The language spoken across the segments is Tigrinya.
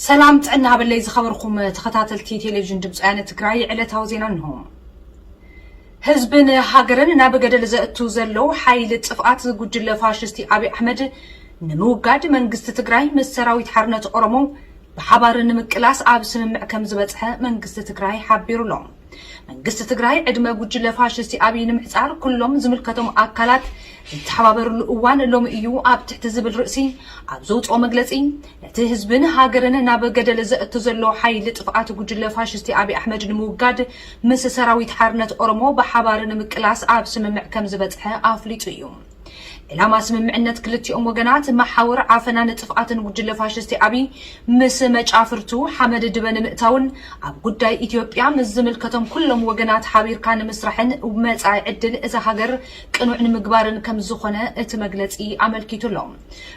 ሰላም ጥዕና ሃበለይ ዝኸበርኩም ተኸታተልቲ ቴሌቪዥን ድምፂ ወያነ ትግራይ ዕለታዊ ዜና እንሆ። ህዝብን ሃገርን ናብ ገደል ዘእቱ ዘሎ ሓይሊ ጥፍኣት ዝጉጅለ ፋሽስቲ ኣብይ ኣሕመድ ንምውጋድ መንግስቲ ትግራይ ምስ ሰራዊት ሓርነት ኦሮሞ ብሓባር ንምቅላስ ኣብ ስምምዕ ከም ዝበፅሐ መንግስቲ ትግራይ ሓቢሩ ኣሎ። መንግስቲ ትግራይ ዕድመ ጉጅለ ፋሽስቲ ኣብይ ንምሕፃር ኩሎም ዝምልከቶም ኣካላት ዝተሓባበርሉ እዋን ሎሚ እዩ ኣብ ትሕቲ ዝብል ርእሲ ኣብ ዘውፅኦ መግለፂ ነቲ ህዝብን ሃገርን ናብ ገደል ዘእቱ ዘሎ ሓይሊ ጥፍኣት ጉጅለ ፋሽስቲ ኣብይ ኣሕመድ ንምውጋድ ምስ ሰራዊት ሓርነት ኦሮሞ ብሓባር ንምቅላስ ኣብ ስምምዕ ከም ዝበፅሐ ኣፍሊጡ እዩ። ዕላማ ስምምዕነት ክልቲኦም ወገናት፣ መሓውር ዓፈናን ጥፍኣትን ጉጅለ ፋሽስቲ ኣብይ ምስ መጫፍርቱ ሓመድ ድበ ንምእታውን ኣብ ጉዳይ ኢትዮጵያ ምስ ዝምልከቶም ኩሎም ወገናት ሓቢርካ ንምስራሕን መፃኢ ዕድል እዛ ሃገር ቅኑዕ ንምግባርን ከምዝኾነ እቲ መግለፂ ኣመልኪቱ ኣሎ።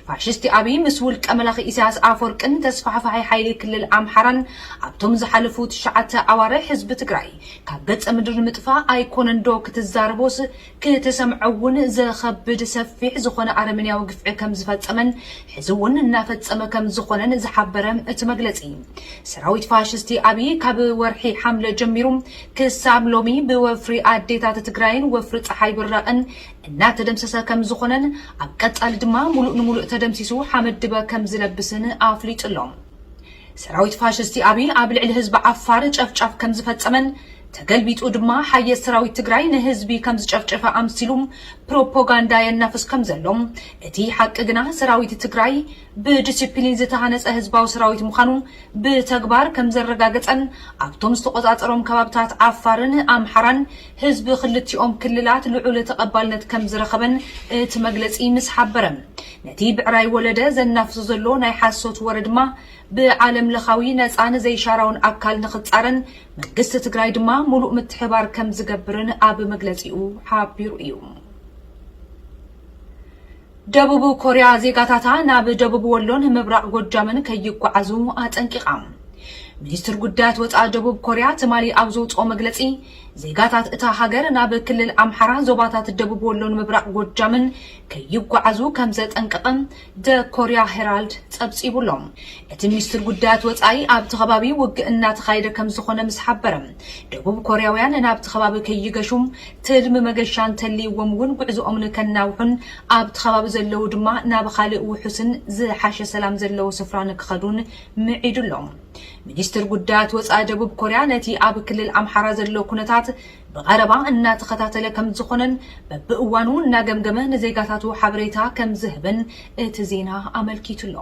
ፋሽስቲ ኣብይ ምስ ውልቀ መላኺ ኢሳያስ ኣፈወርቅን ተስፋሕፋሒ ሓይሊ ክልል ኣምሓራን ኣብቶም ዝሓለፉ ትሽዓተ ኣዋርሕ ህዝቢ ትግራይ ካብ ገፀ ምድሪ ንምጥፋእ ኣይኮነንዶ ክትዛረቦስ ክትሰምዖ እውን ዘኸብድ ሰፊሕ ዝኾነ ኣረሜንያዊ ግፍዒ ከም ዝፈፀመን ሕዚ እውን እናፈፀመ ከም ዝኾነን ዝሓበረ እቲ መግለፂ ሰራዊት ፋሽስቲ ኣብይ ካብ ወርሒ ሓምለ ጀሚሩ ክሳብ ሎሚ ብወፍሪ ኣዴታት ትግራይን ወፍሪ ፀሓይ ብራቕን እናተደምሰሰ ከም ዝኾነን ኣብ ቀፃሊ ድማ ሙሉእ ንሙሉእ ተደምሲሱ ሓመድ ድበ ከም ዝለብስን ኣፍሊጡ ኣሎ። ሰራዊት ፋሽስቲ ኣብይ ኣብ ልዕሊ ህዝቢ ዓፋር ጨፍጫፍ ከም ዝፈፀመን ተገልቢጡ ድማ ሓየት ሰራዊት ትግራይ ንህዝቢ ከምዝጨፍጨፈ ኣምሲሉ ፕሮፖጋንዳ የናፍስ ከምዘሎ፣ እቲ ሓቂ ግና ሰራዊት ትግራይ ብድስፕሊን ዝተሃነፀ ህዝባዊ ሰራዊት ምዃኑ ብተግባር ከምዘረጋገፀን ኣብቶም ዝተቖፃፀሮም ከባብታት ዓፋርን ኣምሓራን ህዝቢ ክልቲኦም ክልላት ልዑል ተቐባልነት ከምዝረኸበን እቲ መግለፂ ምስ ሓበረ ነቲ ብዕራይ ወለደ ዘናፍሶ ዘሎ ናይ ሓሶት ወረ ድማ ብዓለምለኻዊ ነፃን ዘይሻራውን ኣካል ንኽፃረን መንግስቲ ትግራይ ድማ ሙሉእ ምትሕብባር ከምዝገብርን ኣብ መግለፂኡ ሓቢሩ እዩ። ደቡብ ኮርያ ዜጋታታ ናብ ደቡብ ወሎን ምብራቕ ጎጃምን ከይጓዓዙ ኣጠንቂቓ። ሚኒስትር ጉዳያት ወፃኢ ደቡብ ኮርያ ትማሊ ኣብ ዘውፅኦ መግለፂ ዜጋታት እታ ሃገር ናብ ክልል ኣምሓራ ዞባታት ደቡብ ወሎን ምብራቕ ጎጃምን ከይጓዓዙ ከምዘጠንቀቐ The Korea Herald ጸብጺቡ ኣሎ። እቲ ሚኒስትር ጉዳያት ወጻኢ ኣብቲ ከባቢ ውግእ እናተኻየደ ከምዝኾነ ምስ ሓበረ፣ ደቡብ ኮርያውያን ናብቲ ከባቢ ከይገሹ ትልሚ መገሻ እንተልይዎም እውን ጉዕዞኦም ንከናውሑን ኣብቲ ከባቢ ዘለዉ ድማ ናብ ኻልእ ውሑስን ዝሓሸ ሰላም ዘለዎ ስፍራ ንክኸዱን ምዒዱ ኣሎ። ሚኒስትር ጉዳያት ወጻኢ ደቡብ ኮርያ ነቲ ኣብ ክልል ኣምሓራ ዘሎ ኩነታት ብቐረባ እናተኸታተለ ከምዝኾነን በብእዋኑ እናገምገመ ንዜጋታቱ ሓበሬታ ከምዝህብን እቲ ዜና ኣመልኪቱ'ሎ።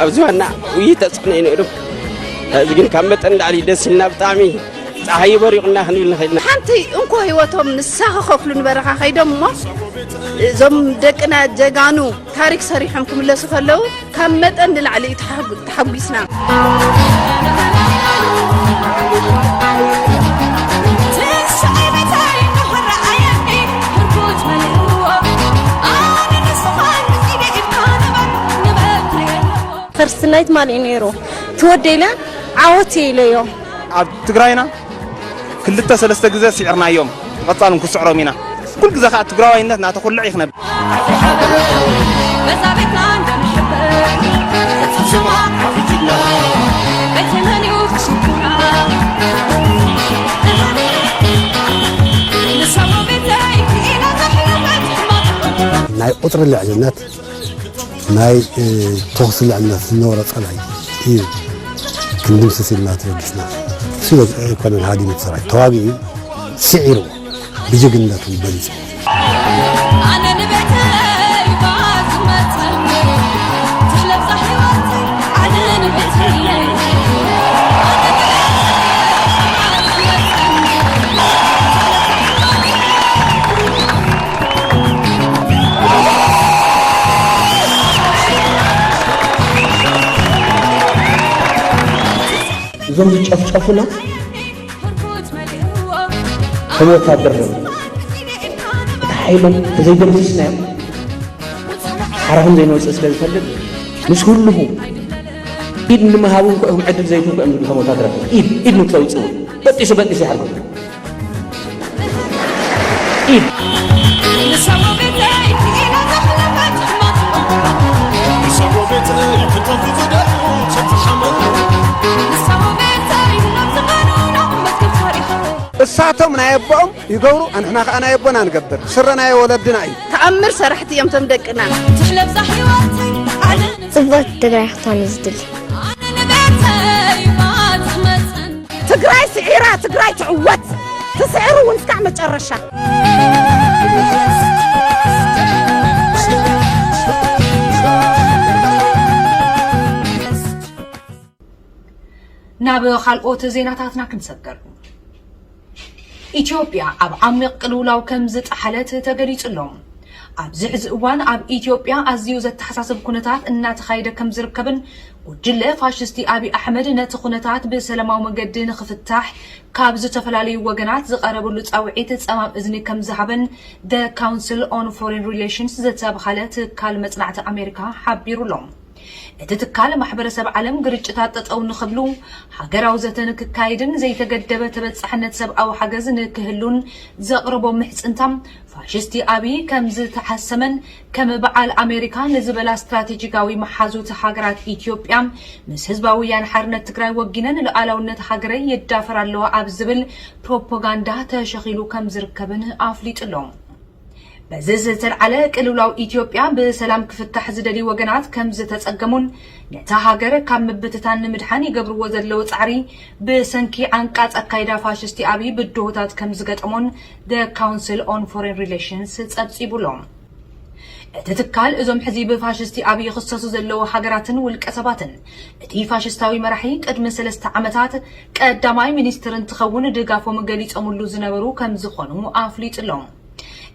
ኣብ ዝባንና ውይይት ተፅዕኖ እዩ ነይሩ ሕዚ ግን ካብ መጠን ላዕሊ ደስ ኢልና ብጣዕሚ ፀሓይ በሪቑና ክንብል ንኽእል ኢና ሓንቲ እንኮ ህይወቶም ንሳ ክኸፍሉ ንበረኻ ከይዶም እሞ እዞም ደቅና ጀጋኑ ታሪክ ሰሪሖም ክምለሱ ከለው ካብ መጠን ንላዕሊ እዩ ተሓጉ- ተሓጒስና ፈርስት ናይት ማሊእ ነይሩ ትወደይ ኢለ ዓወት እየ ኢለዮ ኣብ ትግራይና ክልተ ሰለስተ ግዜ ስዒርናዮም ብቐጻሉ ክንስዕሮም ኢና ኩሉ ግዜ ከዓ ትግራዋይነት እናተኹልዕ እዩ ክነብር ናይ ቁፅሪ ልዕልነት ናይ ተኹሲ ልዕልና ዝነበሮ ጸላኢ እዩ ክንድምስስ ኢልና ተበጊስና ስለ ኣይኮነን ሃዲሙ ሰራዊት ተዋጊኡ ስዒርዎ ብጅግንነት እውን በሊጹ እዞም ዝጨፍጨፉና ከም ወታደር ዶ እቲ ሓይሎም ተዘይደምሲስናዮም ሓራ ከም ዘይንወፅእ ስለ ዝፈልጥ ምስ ህልኹ ኢድ ንምሃብ እንኮ እዮም ዕድል ዘይትንኮ እዮም ዝብሉ ከም ወታደራት ኢድ ኢድ ንክተውፅኡ በጢሱ በጢሱ ይሓርጉ እሳቶም ናይ ኣቦኦም ይገብሩ ኣንሕና ከዓ ናይ ኣቦና ንገብር ስረ ናይ ወለድና እዩ ተኣምር ሰራሕቲ እዮም ቶም ደቅና ትሕለብዛ ሕይወተይ ዓለም ጽብቕቲ ትግራይ ክትኮን እዩ ዝድሊ ኣነ ንቤተይ ማት መፅን ትግራይ ስዒራ ትግራይ ትዕወት ትስዕር እውን እስካዕ መጨረሻ። ናብ ካልኦት ዜናታትና ክንሰገር ኢትዮጵያ ኣብ ዓሚቕ ቅልውላው ከም ዝጠሓለት ተገሊጹ ኣሎ። ኣብዚ ሕዚ እዋን ኣብ ኢትዮጵያ ኣዝዩ ዘተሓሳስብ ኩነታት እናተኻየደ ከምዝርከብን ጉጅለ ፋሽስቲ ኣብይ ኣሕመድ ነቲ ኩነታት ብሰለማዊ መንገዲ ንኽፍታሕ ካብ ዝተፈላለዩ ወገናት ዝቐረብሉ ፃውዒት ፀማም እዝኒ ከምዝሃበን The Council on Foreign Relations ዝተብሃለ ትካል መፅናዕቲ ኣሜሪካ ሓቢሩ'ሎ። እቲ ትካል ማሕበረሰብ ዓለም ግርጭታት ጠጠው ንኽብሉ ሃገራዊ ዘተ ንክካየድን ዘይተገደበ ተበፃሕነት ሰብኣዊ ሓገዝ ንክህሉን ዘቕረቦ ምሕፅንታ ፋሽስቲ ኣብይ ከምዝተሓሰመን ከም በዓል ኣሜሪካ ንዝበላ ስትራቴጂካዊ መሓዙት ሃገራት ኢትዮጵያ ምስ ህዝባዊ ወያነ ሓርነት ትግራይ ወጊነ ንሉኣላውነት ሃገረይ ይዳፈራ ኣለዋ ኣብ ዝብል ፕሮፓጋንዳ ተሸኺሉ ከምዝርከብን ኣፍሊጡ'ሎ። በዚ ዝተልዓለ ቅልውላው ኢትዮጵያ ብሰላም ክፍታሕ ዝደልዩ ወገናት ከምዝተፀገሙን ነታ ሃገር ካብ ምብትታን ንምድሓን ይገብርዎ ዘለዉ ፃዕሪ ብሰንኪ ዓንቃፅ ኣካይዳ ፋሽስቲ ኣብይ ብድሆታት ከምዝገጠሞን The Council on Foreign Relations ፀብፂቡ ኣሎ። እቲ ትካል እዞም ሕዚ ብፋሽስቲ ኣብይ ይኽሰሱ ዘለዉ ሃገራትን ውልቀሰባትን እቲ ፋሽስታዊ መራሒ ቅድሚ ሰለስተ ዓመታት ቀዳማይ ሚኒስትር እንትኸውን ድጋፎም ገሊፆምሉ ዝነበሩ ከምዝኾኑ ኣፍሊጡ ኣሎ።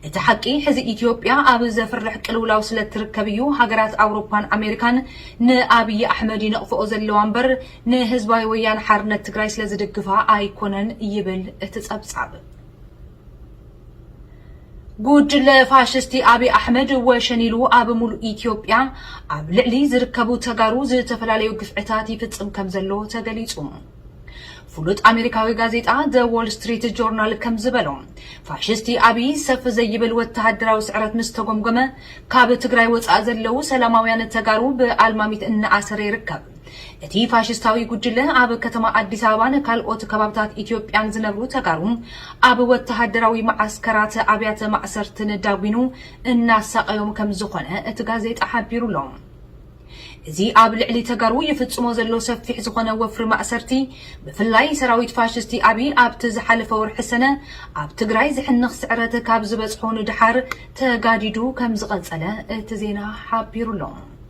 እቲ ሓቂ ሕዚ ኢትዮጵያ ኣብ ዘፍርሕ ቅልውላው ስለ እትርከብ እዩ ሃገራት ኣውሮፓን ኣሜሪካን ንኣብዪ ኣሕመድ ይነቕፍኦ ዘለዋ እምበር ንህዝባዊ ወያነ ሓርነት ትግራይ ስለ ዝድግፋ ኣይኮነን ይብል እቲ ፀብፃብ። ጉጅለ ፋሽስቲ ኣብይ ኣሕመድ ወሸን ኢሉ ኣብ ሙሉእ ኢትዮጵያ ኣብ ልዕሊ ዝርከቡ ተጋሩ ዝተፈላለዩ ግፍዕታት ይፍፅም ከም ዘሎ ተገሊፁ። ፍሉጥ ኣሜሪካዊ ጋዜጣ ዘ ዎል ስትሪት ጆርናል ከም ዝበሎ ፋሽስቲ ኣብይ ሰፍ ዘይብል ወተሃደራዊ ስዕረት ምስ ተጎምጎመ ካብ ትግራይ ወፃእ ዘለው ሰላማውያን ተጋሩ ብኣልማሚት እናኣሰረ ይርከብ። እቲ ፋሽስታዊ ጉጅለ ኣብ ከተማ ኣዲስ ኣበባን ካልኦት ከባብታት ኢትዮጵያን ዝነብሩ ተጋሩ ኣብ ወተሃደራዊ መዓስከራት፣ ኣብያተ ማእሰርትን ዳጒኑ እናሳቐዮም ከምዝኾነ እቲ ጋዜጣ ሓቢሩ ኣሎ። እዚ ኣብ ልዕሊ ተጋሩ ይፍጽሞ ዘሎ ሰፊሕ ዝኾነ ወፍሪ ማእሰርቲ፣ ብፍላይ ሰራዊት ፋሽስቲ ኣብይ ኣብቲ ዝሓለፈ ወርሒ ሰነ ኣብ ትግራይ ዝሕንኽ ስዕረት ካብ ዝበጽሖ ንደሓር ተጋዲዱ ከምዝቐጸለ እቲ ዜና ሓቢሩ ኣሎ።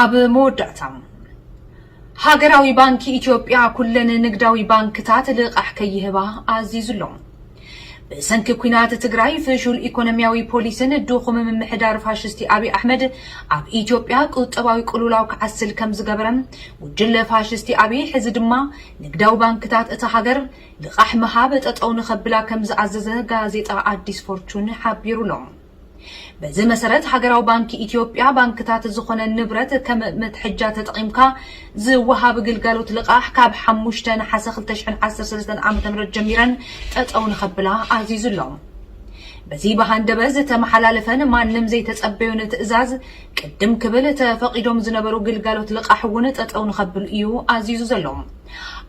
ኣብ መወዳእታ፣ ሃገራዊ ባንኪ ኢትዮጵያ ኩለን ንግዳዊ ባንክታት ልቓሕ ከይህባ ኣዚዙ ኣሎ። ብሰንኪ ኲናት ትግራይ፣ ፍሹል ኢኮኖሚያዊ ፖሊሲን ድኹም ምምሕዳር ፋሽስቲ ኣብይ ኣሕመድ ኣብ ኢትዮጵያ ቁጠባዊ ቅልውላው ክዓስል ከምዝገበረ ጉጅለ ፋሽስቲ ኣብይ ሕዚ ድማ ንግዳዊ ባንክታት እታ ሃገር ልቓሕ ምሃብ ጠጠው ንኸብላ ከምዝኣዘዘ ጋዜጣ ኣዲስ ፎርቹን ሓቢሩ ኣሎ። በዚ መሰረት ሃገራዊ ባንኪ ኢትዮጵያ ባንክታት ዝኾነ ንብረት ከም መትሐጃ ተጠቒምካ ዝወሃብ ግልጋሎት ልቓሕ ካብ ሓሙሽተ ነሓሰ ክልተ ሽሕን ዓሰርተ ሰለስተን ዓ ም ጀሚረን ጠጠው ንኸብላ ኣዚዙ ኣሎ። በዚ ብሃንደበ ዝተመሓላለፈን ማንም ዘይተጸበዮን ትእዛዝ ቅድም ክብል ተፈቒዶም ዝነበሩ ግልጋሎት ልቓሕ እውን ጠጠው ንኸብሉ እዩ ኣዚዙ ዘሎ።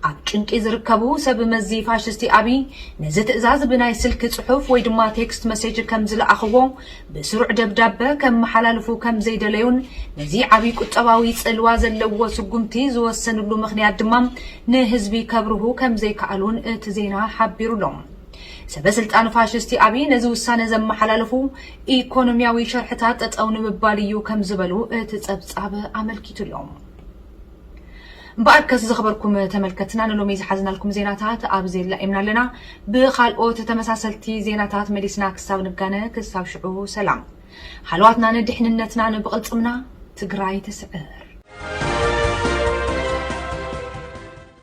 ኣብ ጭንቂ ዝርከቡ ሰብ መዚ ፋሽስቲ ኣብይ ነዚ ትእዛዝ ብናይ ስልኪ ጽሑፍ ወይ ድማ ቴክስት መሴጅ ከም ዝለኣኽዎ ብስሩዕ ደብዳበ ከመሓላልፉ ከም ዘይደለዩን ነዚ ዓብይ ቁጠባዊ ጽልዋ ዘለዎ ስጉምቲ ዝወሰንሉ ምኽንያት ድማ ንህዝቢ ከብርሁ ከም ዘይከኣሉን እቲ ዜና ሓቢሩ ኣሎ። ሰበ ስልጣን ፋሽስቲ ኣብይ ነዚ ውሳነ ዘመሓላለፉ ኢኮኖሚያዊ ሸርሕታት ጠጠው ንምባል እዩ ከም ዝበሉ እቲ ጸብጻብ ኣመልኪቱ ኣሎ። እምበኣርከስ ዝኸበርኩም ተመልከትና ንሎሚ ዝሓዝናልኩም ዜናታት ኣብዚ ኣላኢምና ኣለና። ብኻልኦት ተመሳሰልቲ ዜናታት መሊስና ክሳብ ንጋነ ክሳብ ሽዑ ሰላም። ሃለዋትናን ድሕንነትናን ብቕልጽምና! ትግራይ ትስዕር!